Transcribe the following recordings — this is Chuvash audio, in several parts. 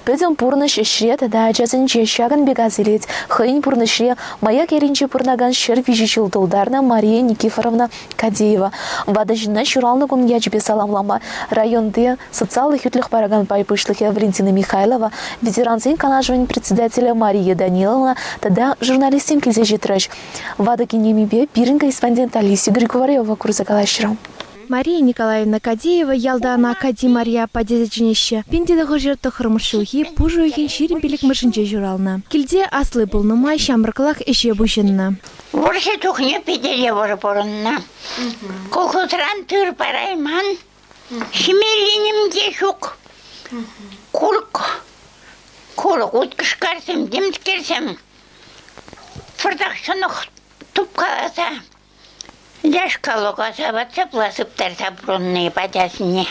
Пӗтӗм пурнӑҫ ӗҫре тата ачасенче ҫакӑн пек асилет. Хӑйӗн пурнӑҫре Маяк ялӗнче пурӑнакан ҫӗр виҫӗ ҫул тултарнӑ Мария Никифоровна Кадеева. Ватӑ ҫынна ҫуралнӑ кун ячӗпе саламлама районти социаллӑ хӳтлӗх паракан пай пуҫлӑхӗ Валентина Михайлова, ветерансен канашӗн председателӗ Мария Даниловна тата журналистсем килсе ҫитрӗҫ. Ватӑ кинемипе пирӗн корреспондент Алиса Григорьева курса калаҫрӑм. Мария Николаевна Кадеева ялтан Акади Мария аппа тесе чӗнеҫҫӗ. Пин тенӗ хӑшӗ тӑххӑрмӗш ҫулхи пушӑ уйӑхӗн ҫирӗм пиллӗкмӗшӗнче ҫуралнӑ. Килте асли пулнӑ май ҫамрӑклах ӗҫе пуҫӑннӑ. Вӑрҫӑ чухне Питӗре вӑрӑ пурӑннӑ. Колхозран тыр парайман. Ҫимелленим те ҫук. Курӑк, курӑк уткӑшкарсем, темскерсем. Пӑртак ҫӑнӑх тупкаласа Ляшка лӑкаса ватсапла сыптарса пурӑнни пачасене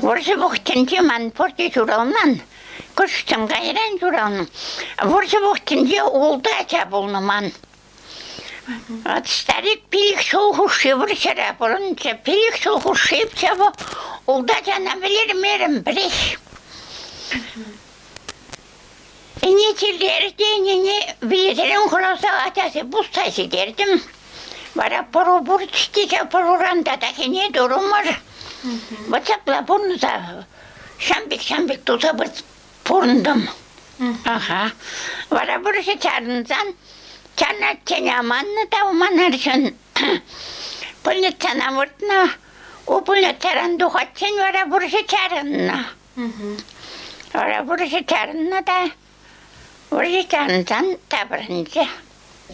вӑрҫӑ вӑхӑтӗнче ман пурте ҫуралман, кӑшт кайран ҫуралнӑ. Вӑрҫӑ вӑхӑтӗнче ултӑ ача пулнӑ ман. Вӑт старик пилӗк ҫул хушши вӑрҫӑра пурӑнчӗ, пилӗк ҫул хушши ҫавӑ ултӑ ачана вӗлермерӗм пӗрех. Ӗнетӳллӗ ӗнене вилӗсерен хӑраса ачаси пусса ҫитертӗм. Вара пӑру пур ҫтиҫе пӑруран та такине турӑмӑр. Вот ҫапла пурӑнса ҫам пек ҫам пек туса пурӑнтӑм. Аха. Вара вӑрҫӑ чарӑнсан чарӑнатчен аманнӑ та аманарҫӑн пульницана выртнӑ. У пульницаран тухатчен вара вӑрҫӑ чарӑннӑ. Вара вӑрҫӑ чарӑннӑ та вӑрҫӑ чарӑнсан таврӑнчӗ.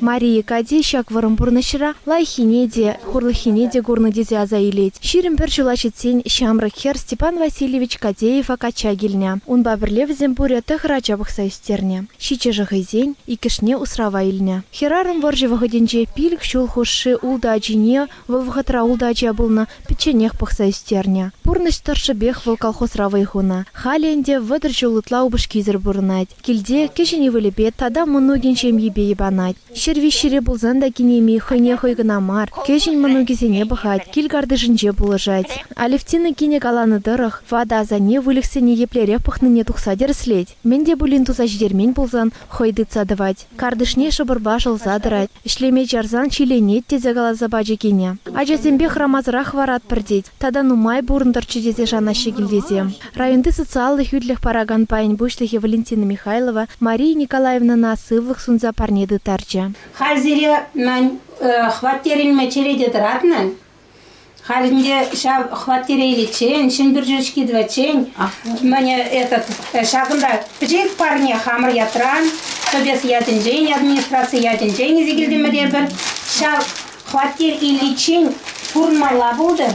Мария Кати ҫак вӑрӑм пурнӑҫра лайӑххине те, хурлӑххине те курнӑ тесе аса илет. Ҫирӗм пӗр ҫула ҫитсен ҫамрӑк хӗр Степан Васильевич Катеева качча килнӗ. Унпа пӗрле вӗсем пурӗ тӑхӑр ача пӑхса ӳстернӗ. Ҫиччӗшӗ хӑйсен, иккӗшне усрава илнӗ. Хӗрарӑм вӑрҫӑ вӑхӑтӗнче пилӗк ҫул хушши ултӑ ачине Вӑл вӑхӑтра ултӑ ача пулнӑ, пӗчченех пӑхса ӳстернӗ. Пурнӑҫ тӑршшӗпех вӑл колхозра вӑй хунӑ. Халӗ ӗнтӗ вӑтӑр ҫул ытла упӑшкисӗр пурӑнать. Килте кӗҫӗн ывӑлӗпе тата мӑнукӗн ҫемйипе йӑпанать. Ҫӗр виҫҫӗре пулсан та кинеми хӑйне хӑй кӑна мар, кӗҫӗн мӑнукӗсене пӑхать, кил-картишӗнче пулӑшать. Алевтина кинӗ каланӑ тӑрӑх, ватӑ асанне выльӑхсене еплерех пӑхнине тухса тӗрӗслет. Мӗн те пулин туса ҫитермен пулсан хӑй тытса тӑвать. Картишне шӑпӑрпа шӑлса тӑрать. Ӗҫлеме чарсан ҫиленет, тесе каласа пачӗ кинӗ. Ачасемпе хӑрамасӑрах хӑваратпӑр тет. Тата нумай пурӑнтӑрччӗ тесе шанаҫҫӗ килтисем. Районти социаллӑ хӳтлӗх паракан пайӗн пуҫлӑхӗ Валентина Михайлова Мария Николаевнӑна сывлӑх сунса парне тыттарчӗ. Халь сире мӗн, хваттерӗнме черете тӑратнӑ? Халь ӗнтӗ ҫав хваттереличчен, Ҫӗнпӳр черчки тӑватчен, мане этот, ҫакӑнта пӗчӗк парне хамӑр ятран, Тӑпес ятӗнчен, администраци ятӗнчен илсе килтӗмӗр эпир. Ҫав хваттер иличчен пурӑнмалла пултӑр.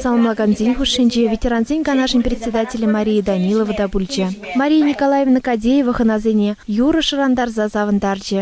Саламлакансен хушшинче ветерансен канашӗн председателӗ Мария Данилова та пулчӗ. Мария Николаевна Кадеева хӑнасене юрӑ шӑрантарса савӑнтарчӗ.